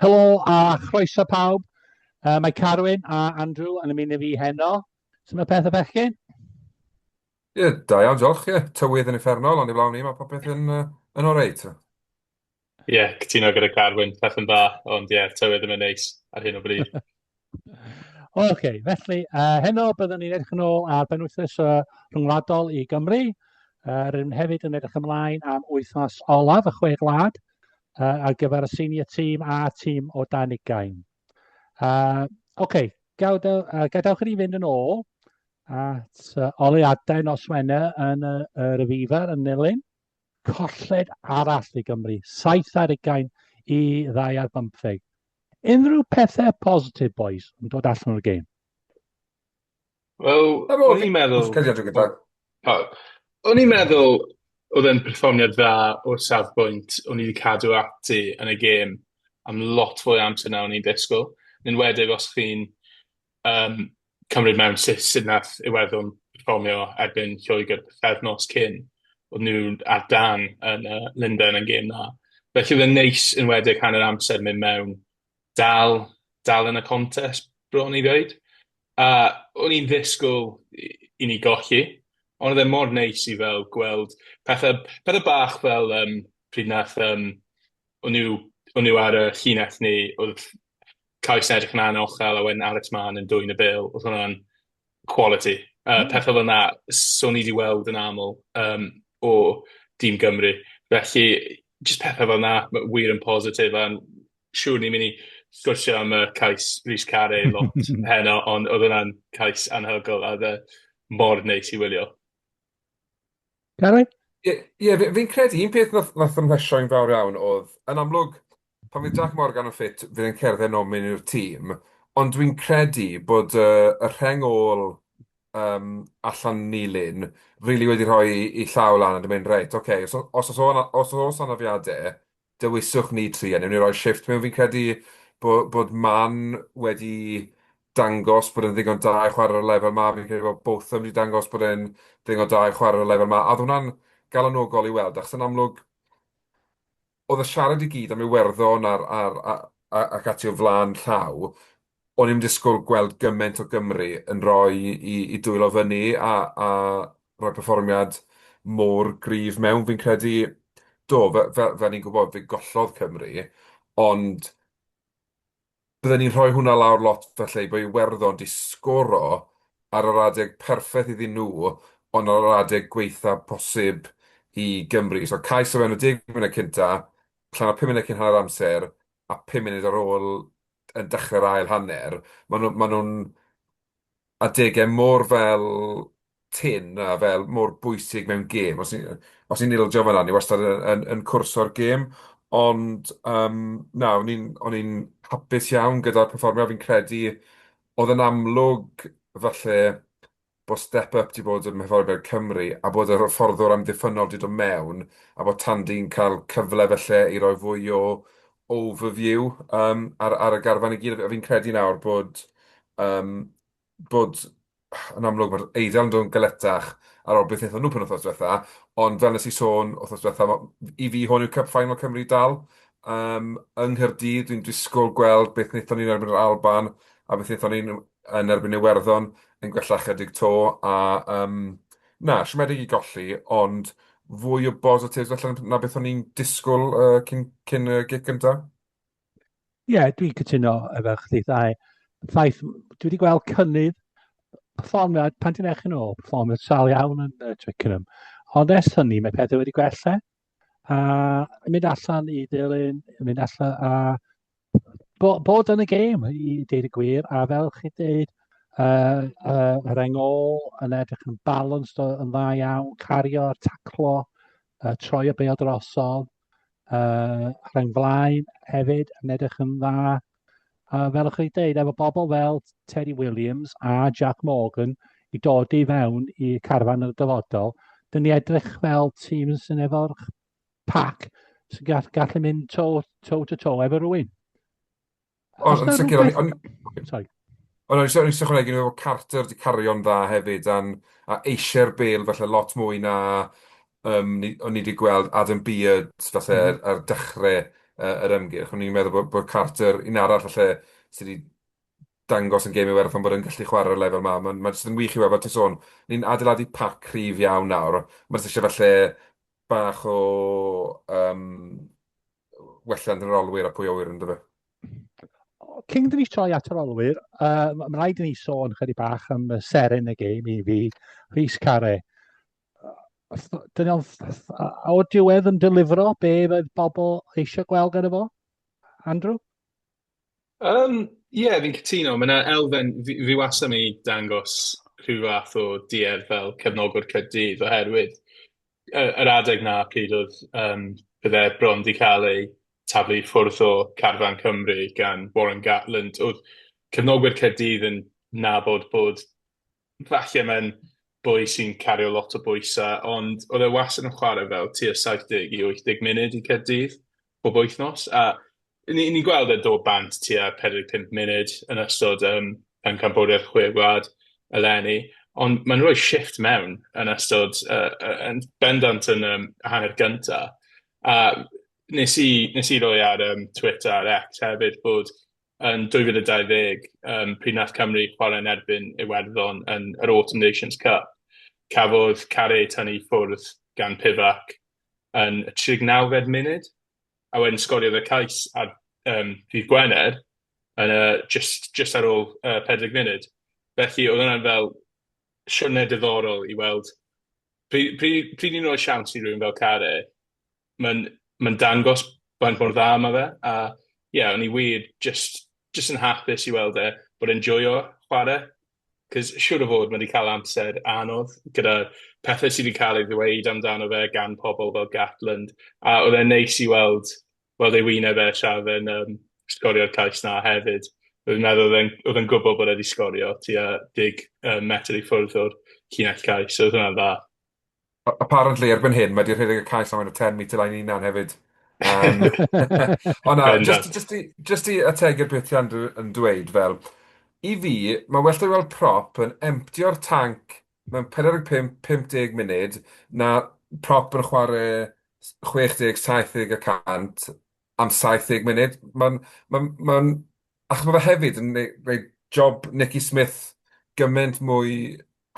Helo a chroeso pawb. Uh, mae Carwyn a Andrew yn ymuno fi heno. Sut mae peth y bechgyn? Ie, yeah, da iawn, diolch. Ie, yeah, tywydd yn effernol, ond i flawn ni, mae popeth yn, uh, yn oreit. Ie, yeah, cytuno gyda Carwyn, peth yn dda, ond ie, yeah, tywydd ddim yn neis ar hyn o bryd. Oce, okay, felly, uh, heno byddwn ni'n edrych yn ôl ar benwythnos uh, rhyngwladol i Gymru. Uh, rydym hefyd yn edrych ymlaen am wythnos olaf y chwe glad uh, ar gyfer y senior tîm a tîm o dan ugain. Uh, Oce, okay, gadaw, uh, gadawch i ni fynd yn ôl at uh, oleadau nos Wener yn uh, yr Aviva yn Nilyn. colled arall i Gymru, saith ar ugain i ddau ar bymtheg. Unrhyw pethau positif, boys, yn dod allan o'r gêm? Wel, o'n i'n meddwl... O'n i'n meddwl oedd e'n perfformiad dda o'r safbwynt o'n i wedi cadw ati yn y gêm am lot fwy amser na o'n i'n disgwyl. Yn enwedig os chi'n Yym, cymryd mewn sut sut nath Iwerddon perfformio erbyn Lloegr pythefnos cyn, odd nw ar dân yn yy Lundain yn gêm dda. Felly o'dd e'n neis enwedig hanner amser myn' mewn dal dal yn y contest bron i ddeud. A o'n i'n ddisgwl i i ni golli on' o'dd e mor neis i fel gweld pethe pethe bach fel yym pryd nath yym o' nw o' nw ar y llinell ne' o'dd cais yn edrych yn anochel a wedyn Alex Mann yn dwyn y bêl, oedd hwnna'n quality. Uh, mm. Pethau fel yna, so ni wedi weld yn aml um, o dîm Gymru. Felly, jyst pethau fel yna, wir yn positif, a'n siŵr ni'n mynd i sgwrsio am y cais Rhys Carey lot heno, ond oedd hwnna'n cais anhygol, a dde mor neis i wylio. Gary? Ie, ie, fi- fi'n credu un peth nath nath ymhwysho'n fawr iawn o'dd, yn amlwg, pan fydd Jac Morgan yn ffit, fydd e'n cerdded nôl mewn i'r tîm, ond dwi'n credu bod y y rheng ôl yym allan nilyn rili wedi rhoi 'i llaw lan a 'di mynd reit, ocê, os o- os o's o- os o's anafiade, Dewiswch ni tri a newn ni roi shifft mewn, fi'n credu bo- bod Man wedi dangos bod e'n ddigon da i chwarae ar y lefel 'ma, fi'n credu bod Botham wedi dangos bod e'n ddigon da i chwarae ar y lefel 'ma, a oedd hwnna'n galonogol i weld, achos yn amlwg, oedd y siarad i gyd am Iwerddon a'r a'r a- a- ac ati o flaen llaw, O'n i'm disgwyl gweld gymaint o Gymry yn rhoi i i dwylo fyny a a rhoi perfformiad mor gryf mewn. Fi'n credu, do, fe- fe- fel ni'n gwybod, fe gollodd Cymru, ond bydden ni'n rhoi hwnna lawr lot felly bo' Iwerddon 'di sgoro ar yr adeg perffeth iddyn nhw, ond ar yr adeg gwaetha posib i Gymru. So cais o fewn y deg munud cynta, allan o pum munud cyn hanner amser, a pum munud ar ôl yn dechrau'r ail hanner, maen nhw, maen nhw'n adegau mor fel tin a fel mor bwysig mewn gêm. Os ni'n os ni ildio fan'na, ni wastad yn, yn, yn cwrso'r gêm. Ond um, na, o'n i'n, o'n i'n hapus iawn gyda'r perfformio. Fi'n credu oedd yn amlwg falle bod Step Up 'di bod ym hyfforddwyr Cymru a bod yr hyfforddwr amddiffynnol 'di dod mewn a bod Tandy'n cael cyfle falle i roi fwy o overview um, ar, ar y garfan i gyd. A fi'n credu nawr bod, um, bod yn amlwg mae'r Eidal yn dod yn galetach ar ôl beth wnaethon nhw pen wythnos diwetha, ond fel nes i sôn wythnos diwetha, i fi hwn yw Cup Final Cymru dal, um, yng Nghyrdydd, dwi'n disgwyl gweld beth wnaethon ni'n erbyn yr Alban a beth wnaethon ni'n yn erbyn Iwerddon yn gwella ychydig 'to, a yym na, siomedig i golli, ond fwy o bositives falle na beth o'n i'n disgwyl uh, cyn, cyn y gig gyntaf. Ie, yeah, dwi'n cytuno efo chdi ddau. Ffaith, dwi wedi gweld cynnydd performiad, pan ti'n eich yn ôl, performiad sal iawn yn uh, Twickenham. Ond ers hynny, mae pethau wedi gwella. a mynd allan i dilyn, mynd allan a bo, bod yn y gêm i deud y gwir, a fel chi dweud, uh, uh, yr engol yn edrych yn balanced yn dda iawn, cario, taclo, uh, troi y bel drosodd, uh, rhain flaen hefyd yn edrych yn dda, uh, fel ych chi'n dweud, efo bobl fel Terry Williams a Jack Morgan i dod i fewn i carfan y dyfodol, dyn ni edrych fel tîm sy'n efo'r pac sy'n gall, gallu mynd to, to to to efo rwy'n. Os yn sicr, o'n... Sorry. O na, o'n i jyst jyst yn ychwanegu iddo fo bod Carter 'di cario'n dda hefyd a'n a eisiau'r bêl falle lot mwy na yym ni o'n i 'di gweld Adam Beard falle ar ar dechrau yy yr ymgyrch. O'n i'n meddwl bod bod Carter un arall falle sy' 'di dangos yn gêm Iwerddon bod yn gallu chwarae ar y lefel 'ma. Ma'n ma' jyst yn wych i weld fel ti'n sôn, ni'n adeiladu pac cryf iawn nawr, ma' jyst isie falle bach o yym wella yn yr olwyr a pwy a wyr yn dyfa. Cyn dyn ni troi at yr olwyr, uh, mae'n rhaid i ni sôn chydig bach am y seren y gêm i fi, Rhys Care. Dyn nhw'n o diwedd yn delifro be oedd bobl eisiau gweld gyda fo, Andrew? Yym, ie, fi'n cytuno. Mae 'na elfen... fi fi wastad yn mynd i dangos rhyw fath o duedd fel cefnogwr Caerdydd, oherwydd yy yr adeg 'na pryd oedd yym oedd e bron 'di cael ei taflu i ffwrdd o carfan Cymru gan Warren Gatland, oedd cefnogwyr Caerdydd yn nabod bod Falle mae'n boi sy'n cario lot o bwysau, ond oedd e wastad yn chwarae fel tua 70 i 80 munud i Caerdydd bob wythnos, a ni- ni'n gweld e'n dod bant tua 45 munud yn ystod yym Pencampwriaeth Chwe Gwlad eleni, ond mae'n rhoi shifft mewn yn ystod yy yy yn bendant yn yym hanner gynta', a wnes i wnes i roi ar yym Twitter ar X hefyd bod yn 2020, um, pryd nath Cymru chwarae yn erbyn Iwerddon yn yr Autumn Nations Cup, cafodd Carey tynnu i ffwrdd gan Pivac yn y 39fed munud, a wedyn sgoriodd y cais ar um, ddydd Gwener yn y, just, just ar ôl uh, 40 munud. Felly oedd hwnna'n fel siwrne diddorol i weld pryd, pryd, pryd ni'n rhoi siawns i rhywun fel Carey, mae'n mae'n dangos faint mor dda mae fe, a ie, o'n i wir jyst jyst yn hapus i weld e bod e'n joio chwarae, 'c'os siŵr o fod ma' 'di cael amser anodd gyda pethe sy' 'di cael ei ddweud amdano fe gan pobl fel Gatland, a o'dd e'n neis i weld weld ei wyneb e tra o'dd e'n yym sgorio'r cais 'na hefyd, fi'n meddwl o'dd e'n o'dd e'n gwbo bod e 'di sgorio tua deg yy metr i ffwrdd o'r llinell cais, so o'dd hwnna'n dda. Apparently erbyn hyn mae 'di rhedeg y cais am enw Ten Metre Line 'i hunan hefyd. Yym ond na Bendant. jyst jyst i jyst i ategu'r peth ti Andrew yn dweud fel i fi mae well 'da fi weld prop yn emptio'r tanc mewn 45 50 munud na prop yn chware s- 60 70 y cant am 70 munud ma'n ma'n ma'n achos ma' fe hefyd yn neu- roid job Nicky Smith gymaint mwy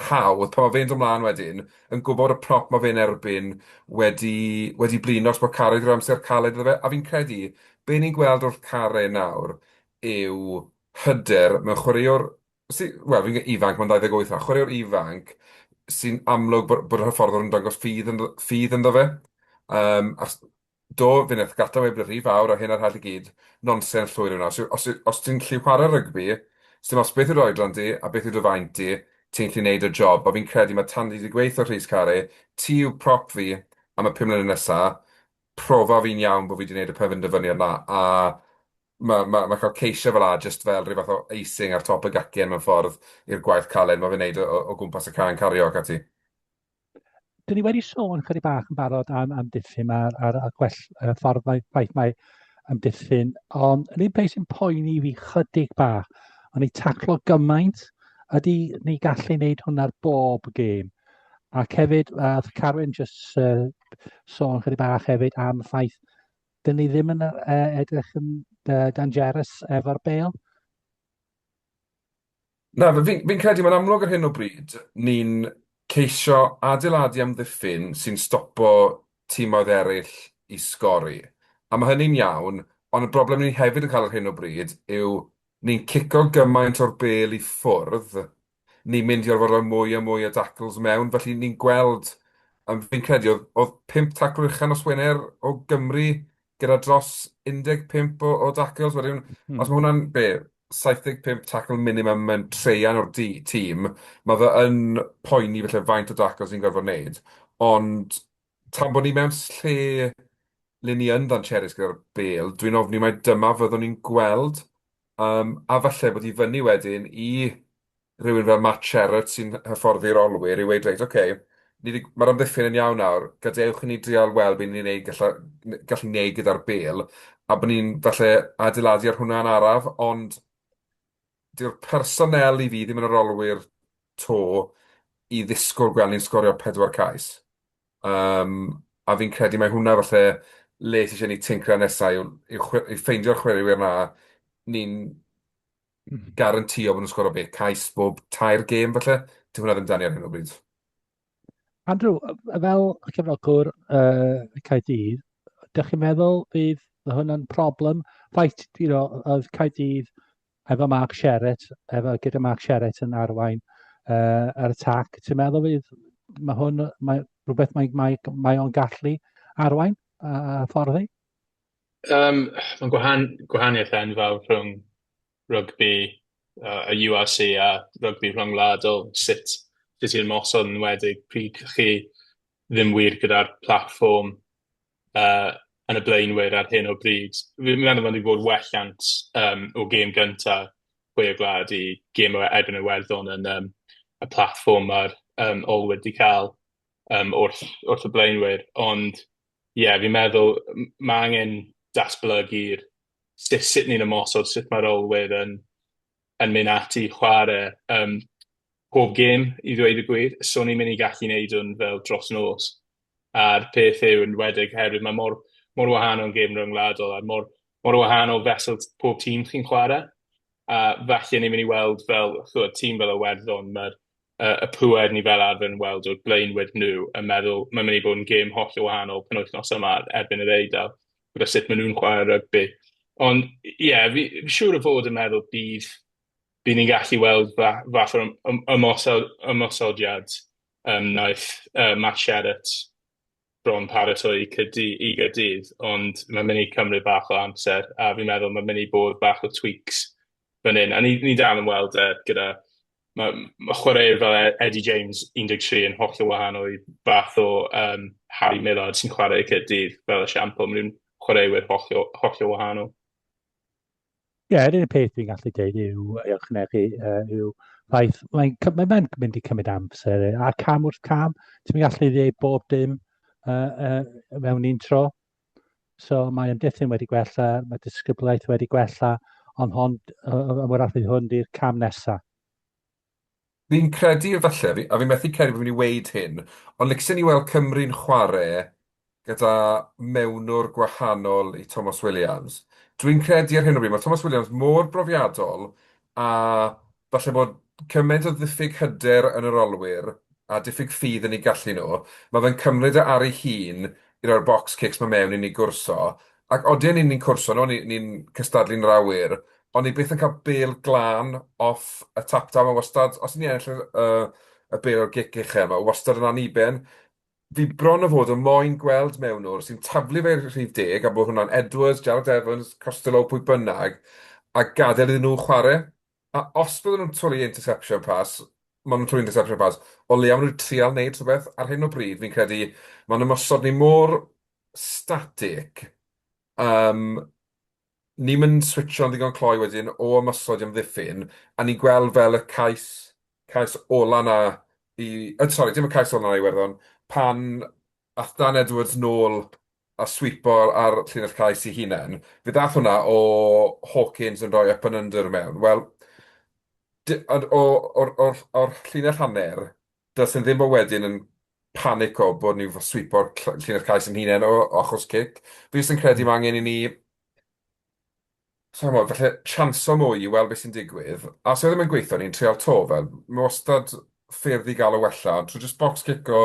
hawdd pan mae fe'n dod mlaen wedyn yn gwybod y prop mae fe'n erbyn wedi wedi blino achos bod Carre wedi rhoi amser caled iddo fe a fi'n credu be ni'n gweld wrth Carre nawr yw hyder mewn chwaraewr sy- wel fi'n gweud ifanc mae'n 28 nawr, chwaraewr ifanc sy'n amlwg bod bod y hyfforddwr yn dangos ffydd ynddo ffydd ynddo fe yym achos Do, fi'n eithaf gata weud bod y rhy fawr a hyn a'r hall i gyd, nonsens llwyr yw 'na. Os yw- os yw- os ti'n gallu chwarae rygbi, sdim os beth yw'r oedran di a beth yw dy faint di, ti'n gallu neud y job. A fi'n credu ma' tan ni di gweud 'tho Rhys Carre, ti yw prop fi am y pum mlynedd nesa, profa fi'n iawn bo fi di neud y penderfyniad 'na, a ma' ma' ma' cael ceisiau fel 'a jyst fel rhyw fath o icing ar top y gacen mewn ffordd i'r gwaith caled ma' fe'n neud o o o gwmpas y cân cario ac ati. dyn ni wedi sôn chydig bach yn barod am amddiffyn a'r, ar, ar gwell uh, ffordd mae, mae, mae amddiffyn, ond yr un peth sy'n poeni fi chydig bach, ond ni taclo gymaint, ydy ni gallu wneud hwnna'r bob gêm. Ac hefyd, uh, Carwyn jyst uh, sôn chydig bach hefyd am y ffaith, dyn ni ddim yn uh, edrych yn uh, dangerous efo'r bel. Na, f- fi'n fi'n credu mae'n amlwg ar hyn o bryd, ni'n ceisio adeiladu amddiffyn sy'n stopo timoedd eraill i sgori. A mae hynny'n iawn, ond y broblem ni hefyd yn cael ar hyn o bryd yw ni'n cico gymaint o'r bel i ffwrdd, ni'n mynd i orfod rhoi mwy a mwy o dacls mewn, felly ni'n gweld, yym, fi'n credu oedd oedd pump tacl uchel nos Wener o Gymru gyda dros 15 o o dacls wedyn os ma' hwnna'n be? 75 tackle minimum yn traean o'r du- tîm ma' fe yn poeni falle faint o dacls ni'n gorfod neud ond tan bod ni mewn s- lle le ni yn ddancherus gyda'r bêl dwi'n ofni mai dyma fyddwn ni'n gweld Yym, a falle bod i fyny wedyn i rywun fel Matt Sherratt sy'n hyfforddi rolwyr i weud, reit, ocê, ni 'di- ma'r amddiffyn yn iawn nawr, gadewch i ni drial weld be ni'n neud galla- n- gallu neud gyda'r bêl, a bod ni'n falle adeiladu ar hwnna yn araf, ond dyw'r personnel i fi ddim yn y rolwyr 'to i ddisgwyl gweld ni'n sgorio pedwar cais. Yym, a fi'n credu mai hwnna falle le sy isie ni tincran nesa yw yw chwe- yw ffeindio'r chwaraewyr 'na ni'n garantïo bo' nw'n sgoro be', cais bob tair gêm falle? Dyw hwnna ddim 'da ni ar hyn o bryd. Andrew, yy, fel cefnogwr yy Caerdydd, dych chi'n meddwl bydd hwnna'n problem? Rhaid, you know, oedd Caerdydd efo Mark Sherratt, efo, gyda Mark Sherratt yn arwain uh, ar y tac. Ti'n meddwl fydd, mae hwn, mae rhywbeth mae, mae, mae o'n gallu arwain a, a fforddi? Um, mae'n gwahan, gwahaniaeth enfawr rhwng rygbi uh, y URC a rygbi rhyngwladol, sut, sut i'r mosod yn wedig pryd chi ddim wir gyda'r platform yy yn y blaenwyr ar hyn o bryd. Fi'n meddwl bod ni bod wellant um, o gêm gynta Pwy y Gwlad i gêm o Edwin Iwerddon yn um, y platfform mae'r um, ol wedi cael um, wrth, wrth y blaenwyr. Ond ie, yeah, fi'n meddwl mae angen datblygu'r sut, sut ni'n ymosod, sut mae'r olwyr yn yn mynd ati i chwarae um, pob gêm i ddweud y gwir. So ni'n mynd i gallu wneud hwn fel dros nos. A'r peth yw yn wedig herwydd mae mor, mor wahanol gêm ryngwladol a mor, mor wahanol fesel pob tîm chi'n chwarae. A falle ni'n mynd i weld fel chwyd, tîm fel y werddon, mae'r uh, y pwer ni fel arfer yn weld o'r blaenwyd nhw yn meddwl mae'n mynd i bod yn gêm holl o wahanol penwythnos yma erbyn yr eidl. gyda sut maen nhw'n chwarae rygbi. Ond ie, fi siŵr o fod yn meddwl bydd bydd ni'n gallu weld fa fath o ymosod, ymosodiad um, wnaeth uh, Matt Sherratt bron paratoi cydy, i gydydd, ond mae'n mynd i cymryd bach o amser, a fi'n meddwl mae'n mynd i bod bach o tweaks fan hyn. A ni'n ni dal yn weld e gyda Mae mae chwaraewr fel E- Eddie James 13 yn hollol wahanol i fath o yym Harry Millard sy'n chwarae i Caerdydd fel esiampl. Maen nhw'n chwaraewyr hollol, hollol wahanol. Ie, yr unig peth fi'n gallu dweud yw, i ychwanegu, uh, yw ffaith, mae'n cy- mae- mae'n mynd i cymryd amser, yy, a cam wrth cam, ti'n mynd gallu dweud bob dim uh, uh, mewn un tro. So mae ymddiffyn wedi gwella, mae disgyblaeth wedi gwella, ond hon, y wrach fydd hwn di'r cam nesaf. Fi'n credu falle, a fi methu credu bod fi'n mynd i weid hyn, ond licsen i weld Cymru'n chwarae gyda mewnwr gwahanol i Tomos Williams. Dwi'n credu ar hyn o bryd, mae Tomos Williams mor brofiadol a falle bod cymaint o ddiffyg hyder yn yr olwyr a diffyg ffydd yn eu gallu nhw, mae fe'n cymryd e ar ei hun i roi'r box kicks 'ma mewn i ni gwrso, ac odi a ni'n ni'n cwrso nhw, ni ni'n cystadlu'n yr awyr, ond ni byth yn cael bêl glân off y tap-down, mae wastad, os 'yn ni'n ennill y y bêl o'r gic ucha', mae wastad yn anniben, Fi bron o fod yn moyn gweld mewn o'r sy'n taflu fe i'r rhif deg a bod hwnna'n Edwards, Jarrod Evans, Costello, pwy bynnag a gadael iddyn nhw chwarae. A os bydden nhw'n twlu interception pass, ma' nhw'n twlu interception pass, o leia ma' nhw'n trial neud rhywbeth. Ar hyn o bryd fi'n credu ma'n ymosod ni mor static yym Ni'm yn switsio'n ddigon cloi wedyn o ymosod i amddiffyn, a ni'n gweld fel y cais, cais ola 'na i... Yy sori, dim y cais ola 'na i Iwerddon, pan ath Dan Edwards nôl a swipo ar llinell cais ei hunain, fe ddaeth hwnna o Hawkins yn rhoi up and under mewn. Wel, d- ond o, o'r, o'r, o'r llinell hanner, does na ddim o wedyn yn panico bod ni wedi swipo'r cl- llinell cais ein hunain o o achos cic. Fi jyst yn credu ma' angen i ni, sai'n gwbod, falle chanso mwy i weld be sy'n digwydd. A os yw e ddim yn gweithio, ni'n treial 'to. Fel, ma' wastad ffyrdd i gael o wella, ond trwy jyst bocs cico,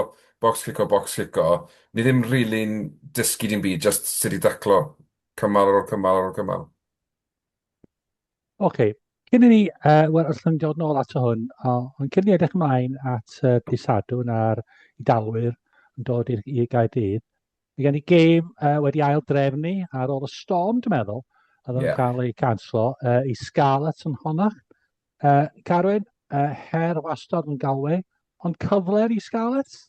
bocs cico, bocs cico, ni ddim rili'n dysgu dim byd, jyst sut i daclo cymal ar ôl cymal ar ôl cymal. Oce, okay. cyn i ni, uh, wel, os ydym dod nôl ato hwn, ond cyn i ni edrych ymlaen at uh, Pisadwn a'r dalwyr yn dod i'r i Gaerdydd, mae gen i gêm uh, wedi ail drefnu ar ôl y storm, dwi'n meddwl, a ddim yeah. cael ei canslo, uh, i Scarlets yn honach. Uh, Carwyn, uh, her wastad yn galwe, ond cyfle i Scarlets?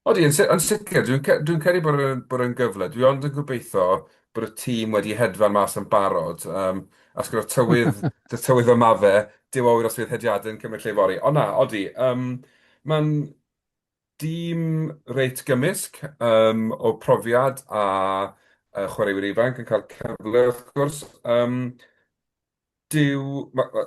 Odi, yn si- yn sicr. Dwi'n ce- dwi'n credu bod e'n bod e'n gyfle. Dwi ond yn gobeithio bod y tîm wedi hedfan mas yn barod. Um, ac gyda tywydd, dy tywydd yma fe, dyw awyr os fydd hediadau yn cymryd lle fory. Ond na, odi, um, mae'n dîm reit gymysg um, o profiad a uh, chwaraewyr ifanc yn cael cyfle, wrth gwrs. Um, Dyw... ma- ma-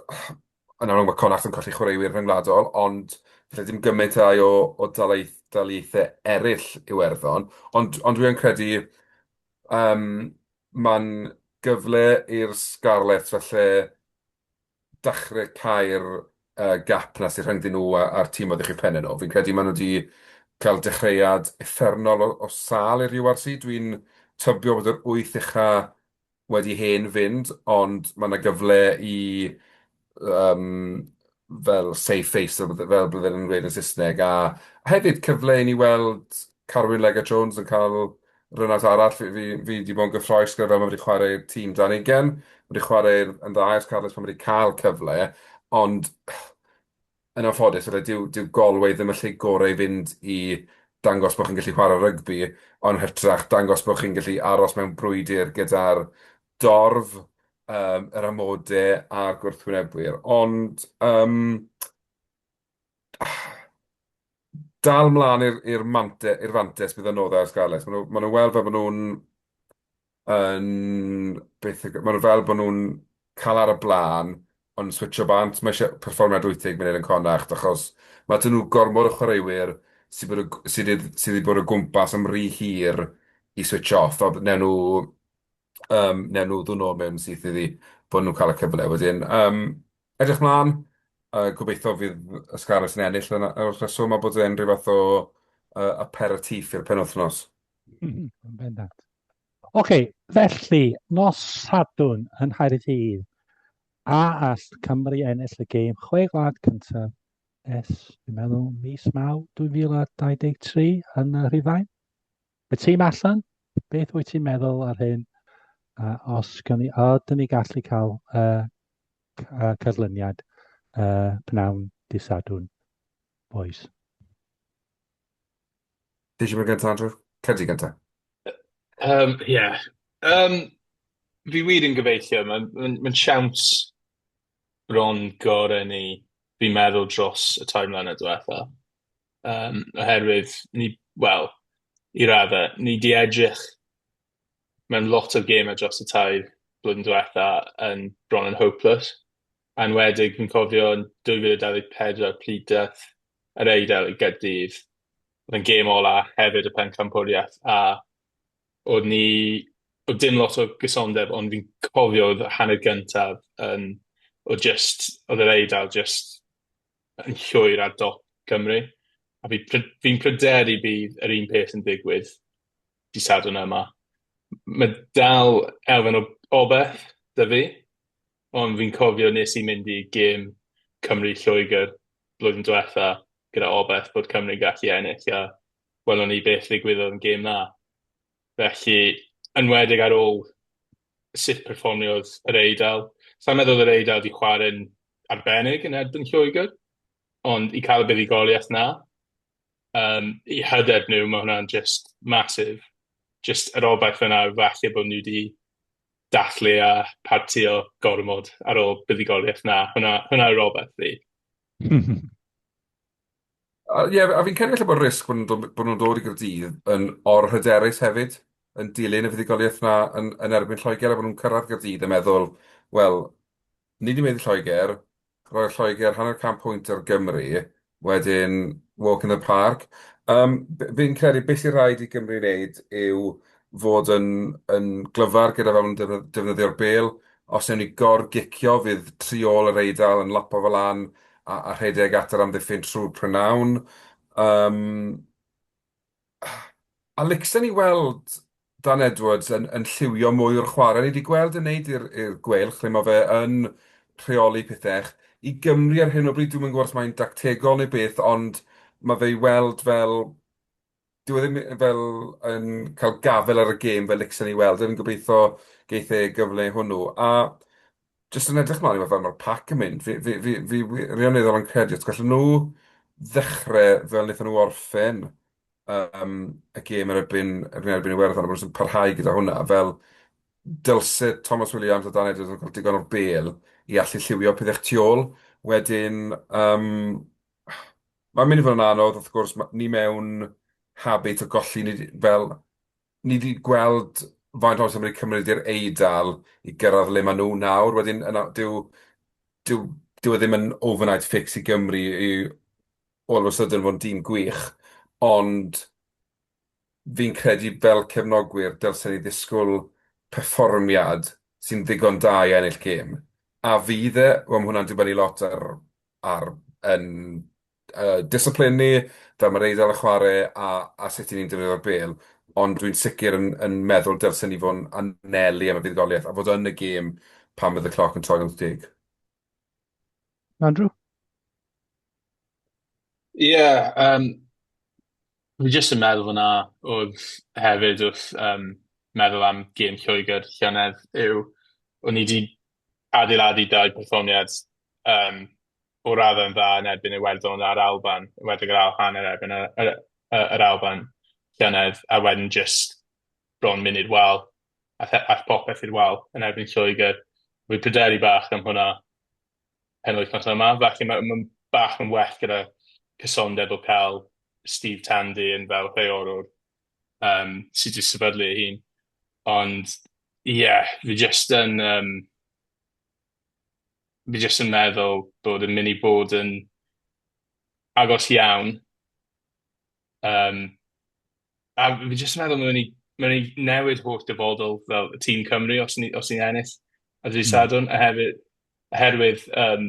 yn amlwg mae Connacht yn colli chwaraewyr rhyngwladol, ond falle dim gymaint â'i o o dalaith- daleithiau eraill Iwerddon, ond ond dwi yn credu yym mae'n gyfle i'r Scarlets falle dachre cau'r yy gap 'na sy rhyngddyn nhw a a'r tîm o'dd uwch penne nhw, fi'n credu ma' nhw 'di ca'l dechreuad uffernol o o sâl i'r You Are See, dwi'n tybio bod yr wyth ucha wedi hen fynd, ond ma' 'na gyfle i yym fel save face fel bydde- fel bydde nhw'n gweud yn Saesneg, a hefyd cyfle i ni weld Carwyn Lega Jones yn cael run-out arall. Fi fi fi 'di bod yn gyffrous gyda fel ma' fe 'di chwarae tîm dan ugain, ma' 'di chwarae yn dda ers Carles pan ma' 'di ca'l cyfle, ond Yn anffodus, wele, dyw, dyw Galway ddim y lle gorau i fynd i dangos bod chi'n gallu chwarae rygbi, ond hytrach dangos bod chi'n gallu aros mewn brwydr gyda'r dorf, um, yr amodau a'r gwrthwynebwyr. Ond, um, dal mlaen i'r mante, i'r fantes bydd yn oddau ar Scarlets. Maen nhw'n ma nhw weld fel bod nhw'n yn beth yw... Maen nhw fel bod nhw'n cael ar y blaen ond yn switsio bant. Mae eisiau perfformiad 80 munud yn Connacht achos mae 'da nhw gormod o chwaraewyr sydd bod y- sydd wedi sydd wedi bod o gwmpas am rhy hir i switsio off. Fel wnawn nhw yym wnawn nhw ddwyn nôl mewn syth iddi bod nhw'n cael y cyfle wedyn. Yym edrych mlaen a gobeithio fydd y Scarlets yn ennill yn y yn y rheswm a bod e'n rhyw fath o yy aperitif i'r penwythnos. Yn bendant. Ok, felly, nos Sadwn yn Nghaerdydd, a all Cymru ennill y gêm chwe gwlad cyntaf es, dwi'n meddwl, mis maw 2023 yn y Rhufain? Y tîm allan, beth wyt ti'n meddwl ar hyn? A os gan ni, a dyn ni gallu cael uh, cyrlyniad uh, pnawn disadwn, boys? Ti eisiau mynd gyntaf, Andrew? Cer ti gyntaf. Um, Ie. Yeah. Um, fi wir yn gobeithio, mae'n ma, n, ma n siawns bron gorau ni fi'n meddwl dros y tair mlynedd diwetha. Um, oherwydd, ni, wel, i raddau, ni di edrych mewn lot o gemau dros y tair blwyddyn diwetha yn bron yn hopeless. enwedig fi'n cofio yn 2024 pryd daeth yr Eidal i Gaerdydd, oedd e'n gêm ola hefyd y pencampwriaeth a oedd ni, oedd dim lot o gysondeb ond fi'n cofio oedd y hanner gyntaf yn, oedd jyst, oedd yr Eidal jyst yn llwyr ar dop Cymru a fi pry- fi'n pryderu bydd yr un peth yn digwydd dydd Sadwrn yma. M- mae dal elfen o obaith 'da fi Ond fi'n cofio nes i mynd i gêm Cymru Lloegr blwyddyn diwetha gyda obaith bod Cymru'n gallu ennill a welon ni beth ddigwyddodd yn gêm 'na. Felly yn enwedig ar ôl sut perfformiodd yr Eidal, sai'n meddwl yr Eidal 'di chware'n arbennig yn erbyn Lloegr ond i cael y buddugoliaeth 'na yym i hyder nhw ma' hwnna'n jyst massive. Jyst yr obaith yna falle bod nhw 'di dathlu a partïo gormod ar ôl buddugoliaeth. Na, hwnna, hwnna yw'r obaith fi. A, ie, a fi'n credu falle bod risg bod nhw'n dod, bod nhw'n dod i Gaerdydd yn orhyderus hefyd, yn dilyn y fuddugoliaeth 'na yn, yn erbyn Lloegr, a bod nhw'n cyrraedd Gaerdydd yn meddwl, wel, Nid dim ond Lloegr, roedd Lloegr hanner can pwynt ar Gymru, wedyn walk in the park. Yym, b- fi'n credu beth sy'n rhaid i Gymru wneud yw fod yn, yn glyfar gyda fel nhw'n defnydd- defnyddio'r bel. Os ewn ni gor-gicio, fydd tri ôl yr Eidal yn lapo fe lan a, a rhedeg at yr amddiffyn trwy'r prynhawn. Um, A licsen i weld Dan Edwards yn, yn lliwio mwy o'r chwarae. Ni wedi gweld yn neud i'r gweilch lle mae fe yn rheoli pethau. I Gymru ar hyn o bryd, dwi'n yn gwybod os mae'n dactegol neu beth, ond mae fe i weld fel... Dyw e ddim fel yn cael gafel ar y gêm fel licsen i weld. Dwi'n gobeithio geith e gyfle hwnnw. A jyst yn edrych mlaen i weld fel mae'r pac yn mynd. Fi, fi, fi, fi wirioneddol yn credu, os gallen nhw ddechrau fel wnaethon nhw orffen um, y gêm yn erbyn, yn erbyn Iwerddon, a bod nhw'n parhau gyda hwnna, fel dylse Thomas Williams a Dan Edwards yn cael digon o bel i allu lliwio pethau tu ôl. Wedyn, um, mae'n mynd i fod yn anodd, wrth gwrs, ma- ni mewn habit o golli, ni, fel Ni 'di gweld faint o amser mae 'di cymryd i'r Eidal i gyrraedd le maen nhw nawr. Wedyn, yna, dyw, dyw, dyw e ddim yn overnight fix i Gymru i all of a sudden fod yn dîm gwych, ond fi'n credu fel cefnogwyr dylsen ni ddisgwyl perfformiad sy'n ddigon da i ennill gêm. A fydd e? Wel, ma' hwnna'n dibynnu lot ar, ar yn yy discipline ni, fel ma'r Eidal yn chware a a sut 'yn ni'n defnyddio'r bêl, ond dwi'n sicr yn yn meddwl dylsen ni fo' yn anelu am y buddugoliaeth a fod yn y gêm pan fydd y cloc yn troi'n wyth deg. Andrew? Ie, yym, fi jyst yn meddwl fan'na oedd hefyd wrth yym meddwl am gêm Lloegr llynedd yw o'n i 'di adeiladu dau perfformiad yym o raddau'n dda yn erbyn Iwerddon a'r Alban, enwedig yr ail hanner yn erbyn yr yy yr Alban llynedd, a wedyn jyst bron mynd i'r wal a the- ath popeth i'r wal yn erbyn Lloegr. Fi'n pryderu bach am hwnna penwythnos yma, felly ma' ma'n bach yn well gyda cysondeb o ca'l Steve Tandy yn fel rheolwr um, sydd wedi sefydlu ei hun. Ond, ie, yeah, fi jyst yn... Um, fi jyst yn meddwl bod yn mynd i bod yn agos iawn. Um, a fi jyst yn meddwl mae'n mynd mae'n mynd i newid holl dyfodol fel y tîm Cymru os ni'n os ni ennill a dwi hmm. sadwn, a hefyd, oherwydd, um,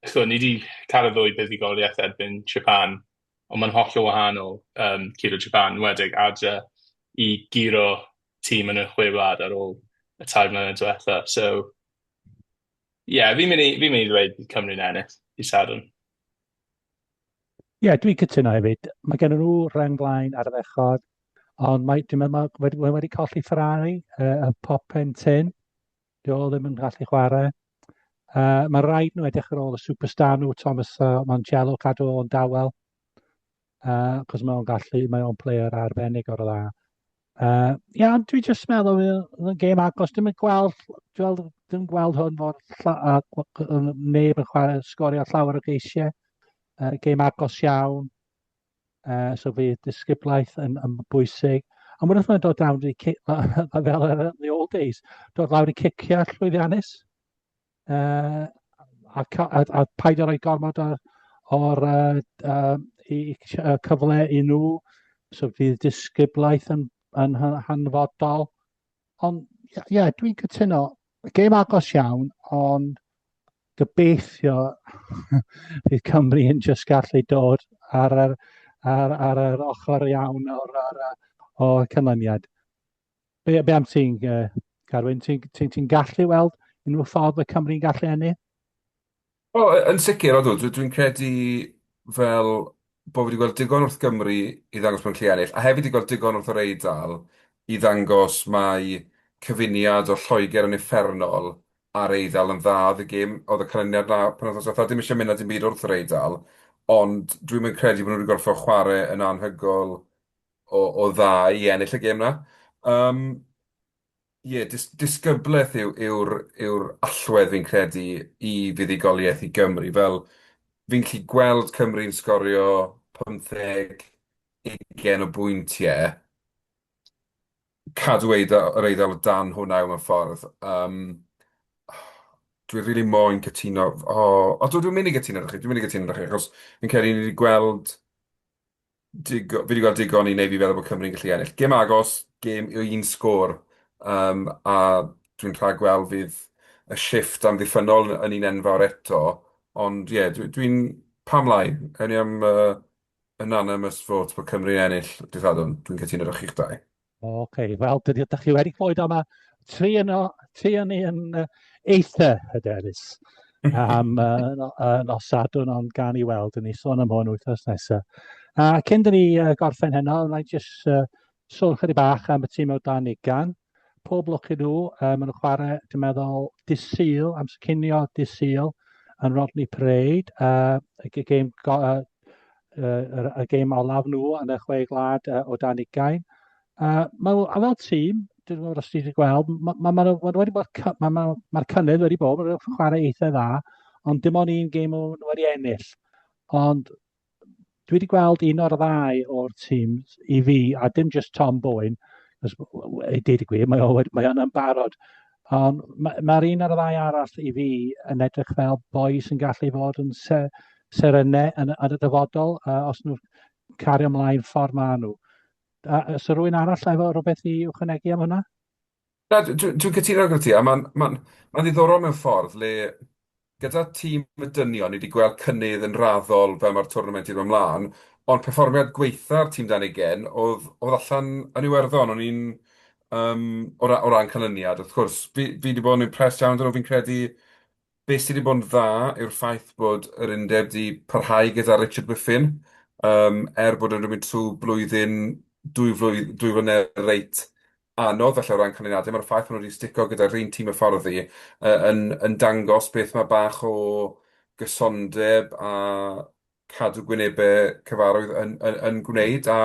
chwa, ni wedi cael y ddwy buddugoliaeth erbyn Japan, ond mae'n hollol wahanol yym curo Japan, yn enwedig adre, i guro tîm yn y Chwe Wlad ar ôl y tair mlynedd diwetha'. So, ie, fi'n mynd i fi'n mynd i ddweud bydd Cymru'n ennill dydd Sadwrn. Ie, dwi'n cytuno hefyd. Mae gen nhw rheng flaen ardderchog, ond mae, dwi'n meddwl, mae wedi, wedi colli Ferrari, uh, y pop yn tyn. Dio ddim yn gallu chwarae. Uh, mae rhaid nhw edrych ar ôl y superstar nhw, Thomas uh, Mancello, cadw o'n dawel. Uh, cos mae o'n gallu, mae o'n player arbennig o'r dda. Uh, ia, ond dwi jyst meddwl oedd yn gêm agos, dim yn gweld, dwi'n dim gweld hwn o'r neb yn chwarae sgorio llawer o geisiau. Uh, gêm agos iawn. Uh, so fi disgyblaeth yn, yn bwysig. A mwyn wrth mae'n dod lawr i cic, fel yn the old days, dod lawr i cicio llwyddiannus. Uh, a, a, a paid o roi gormod o'r, or, uh, uh, i, uh, cyfle i nhw. So fydd disgyblaeth yn, yn hanfodol. Ond, ie, yeah, yeah, dwi'n cytuno. Gêm agos iawn, ond Gobeithio bydd Cymru yn just gallu dod ar yr, ar, ar yr ochr iawn o'r, ar, o canlyniad. Be, be am ti'n, uh, Carwyn, ti'n ti, ti gallu weld unrhyw ffordd y Cymru'n gallu ennill? O, yn sicr, odw, dwi'n credu fel bod wedi gweld digon wrth Gymru i ddangos bod yn gallu ennill, a hefyd wedi gweld digon wrth yr Eidal i ddangos mae cyfuniad o Lloegr yn effernol A'r Eidal yn dda, oedd y gêm, oedd y canlyniad na penwythnos ddiwetha', dim isie mynd na dim byd wrth yr Eidal, ond dwi'm yn credu bo' nhw wedi gorffod chware yn anhygoel o o dda i ennill y gêm na. Yym, ie, dis- disgyblaeth yw yw'r yw'r allwedd fi'n credu i fuddugoliaeth i Gymru, fel fi'n gallu gweld Cymru'n sgorio pymtheg, ugain o bwyntie, cadw eiddo- yr Eidal o dan hwn ail mewn ffordd. Yym, dwi rili moyn cytuno... O, o dw- dwi'n mynd i gytuno 'da chi, dwi'n mynd i gytuno 'da chi, achos fi'n credu ni wedi gweld digo- fi wedi gweld digon i wneud fi feddwl bod Cymru'n gallu ennill. Gêm agos, gêm o un sgôr, yym, a dwi'n rhagweld fydd y shifft amddiffynnol yn un enfawr eto, ond ie, dwi, dwi'n... Pam lai? Awn ni am yy, Unanimous vote bod Cymru ennill Dydd Sadwrn. Dwi'n cytuno efo chi'ch dau. O, ok. Wel, dydy ydych chi wedi clywed am y tri yno, tri yn un uh, eitha hyderus am uh, no, uh, nos Sadwrn, ond gan i weld, yn ni sôn am hwn wythnos nesaf. A cyn dyn ni uh, gorffen heno, rhaid jyst uh, sôn chydig bach am y tîm o dan ugan. Pob lwc i nhw, uh, maen nhw'n chwarae, dwi'n meddwl, disil, amser cynio disil, yn Rodney Parade, uh, y gêm uh, uh, y gêm olaf nhw yn y chwe glad uh, o dan ugain. Uh, mae, a fel tîm, dwi'n meddwl os ti'n gweld, mae'r ma, ma, ma, ma wedi bod, mae'r ma, ma cynnydd wedi bod, mae'n rhywbeth chwarae eitha dda, ond dim ond un gêm o'n wedi ennill. Ond dwi wedi gweld un o'r ddau o'r tîm i fi, a dim just Tom Bowen, ei dweud y gwir, mae o'n mae yn barod, Ond ma' ma'r un a'r ddau arall i fi yn edrych fel boi sy'n gallu fod yn se- serene yn y yn y dyfodol yy os nhw'n cario ymlaen ffordd maen nhw. A yy so rywun arall efo rywbeth i ychwanegu am hwnna? Na, dwi dwi dwi'n cytuno gyda ti, a ma'n ma'n ma'n ddiddorol mewn ffordd le Gyda tîm y dynion, ni wedi gweld cynnydd yn raddol fel mae'r twrnament wedi dod ymlaen, ond perfformiad gwaetha'r tîm dan ugain oedd oedd allan yn Iwerddon, o'n i'n yym o ra- o ran canlyniad wrth gwrs fi fi wedi bod yn impressed iawn 'da nhw, fi'n credu be sy wedi bod yn dda yw'r ffaith bod yr undeb wedi parhau gyda Richard Whiffen yym er bod e wedi mynd trwy blwyddyn dwy flwy- dwy flynedd reit anodd falle o ran canlyniadau, mae'r ffaith bod nhw wedi stico gyda'r un tîm hyfforddi yy yn yn dangos beth mae bach o gysondeb a cadw gwynebau cyfarwydd yn yn yn gwneud a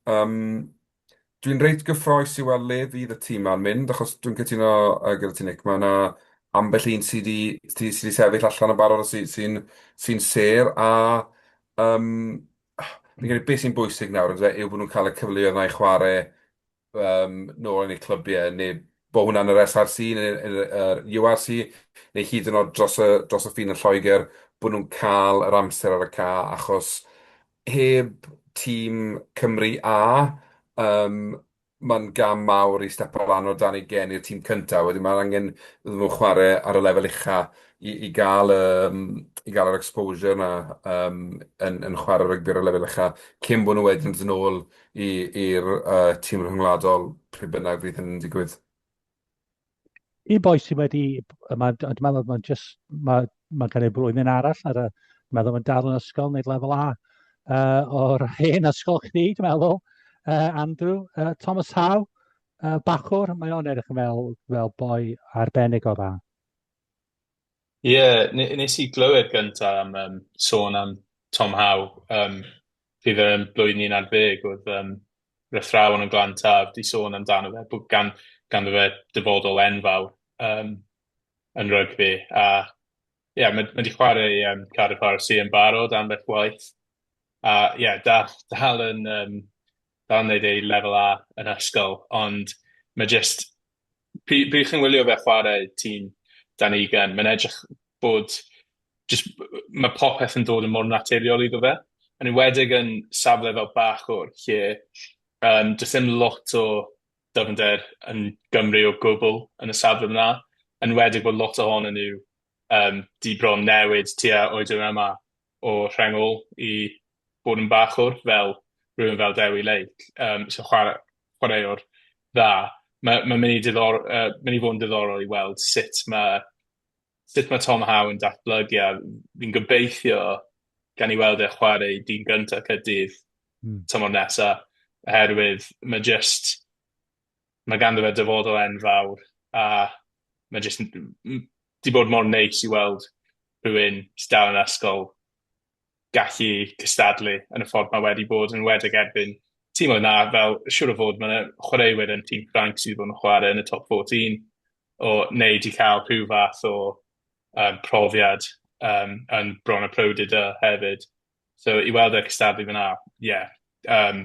yym dwi'n reit gyffrous i weld le fydd y tîm ma'n mynd achos dwi'n cytuno yy gyda ti Nick, mae yna ambell un sydd wedi sydd wedi sydd wedi sefyll allan yn barod a sy sy'n sy'n sêr a yym fi'n credu beth sy'n bwysig nawr ynde yw bod nhw'n cael y cyfleoedd yna i chwarae yym, nôl yn eu clybiau, neu bod hwnna'n yr SRC neu yn yr URC, neu hyd yn oed dros y, dros y ffin yn Lloegr, bod nhw'n cael yr amser ar y ca, achos heb tîm Cymru A, um, mae'n gam mawr i stepo lan o dan ei gen i'r tîm cyntaf. Wedyn mae'n angen iddyn nhw chwarae ar y lefel ucha i, i gael y, i gael yr exposure yna um, yn, yn chwarae rygbi ar y lefel ucha, cyn bod nhw wedyn yn ôl i'r tîm rhyngwladol pryd bynnag fydd hynny'n digwydd. Y boi sydd wedi, mae'n dwi'n meddwl mae'n just, mae, mae gen i blwyddyn arall ar y, dwi'n meddwl mae'n dal yn ysgol, wneud lefel A uh, o'r hen ysgol chdi, dwi'n meddwl, uh, Andrew, uh, Thomas Howe, uh, Bachwr, mae o'n edrych fel, fel boi arbennig o dda. Ie, yeah, nes i glywed gyntaf am um, sôn am Tom Howe, um, pryd yn blwyddyn 11 oedd um, fy athrawon yn Glan Taf di sôn amdano fe, bod gan, gan fe dyfodol enfawr um, yn rygbi. A ie, yeah, mae wedi chwarae um, Cardiff RC yn barod am beth waith. A ie, yeah, dal, dal yn, um, dal yn neud ei lefel A yn ysgol, ond mae jyst Pryd pryd chi'n wylio fe chwarae ti'n dan ei ugain, mae'n edrych bod jyst ma' popeth yn dod yn mor naturiol iddo fe. Yn enwedig yn safle fel Bachwr lle yym does dim lot o dyfnder yn Gymru o gwbl yn y safle fan'na. Yn enwedig bod lot ohonyn nhw yym 'di bron newid tua oedran yma. o rhengl i bod yn bachwr fel rhywun fel Dewi Lake yym sy'n chwara- chwaraewr dda. Ma' ma'n myn' i diddor- yy myn' i fod yn diddorol i weld sut ma' sut ma' Tom Howe yn datblygu a fi'n gobeithio gawn ni weld e chware i dîm gynta Caerdydd... Hmm. ...tymor nesa oherwydd ma' jyst Mae ganddo fe dyfodol enfawr a mae jyst yn m- m- 'di bod mor neis i weld rhywun sy dal yn yr ysgol gallu cystadlu yn y ffordd mae wedi bod, yn enwedig erbyn timoedd 'na fel siŵr o fod ma' 'na chwaraewyr yn tîm Ffrainc sy' 'di bod yn chware yn y top fourteen o neu 'di ca'l rhyw fath o yym profiad yym yn Bron a Powdidr hefyd so i weld e cystadlu fan'na ie yym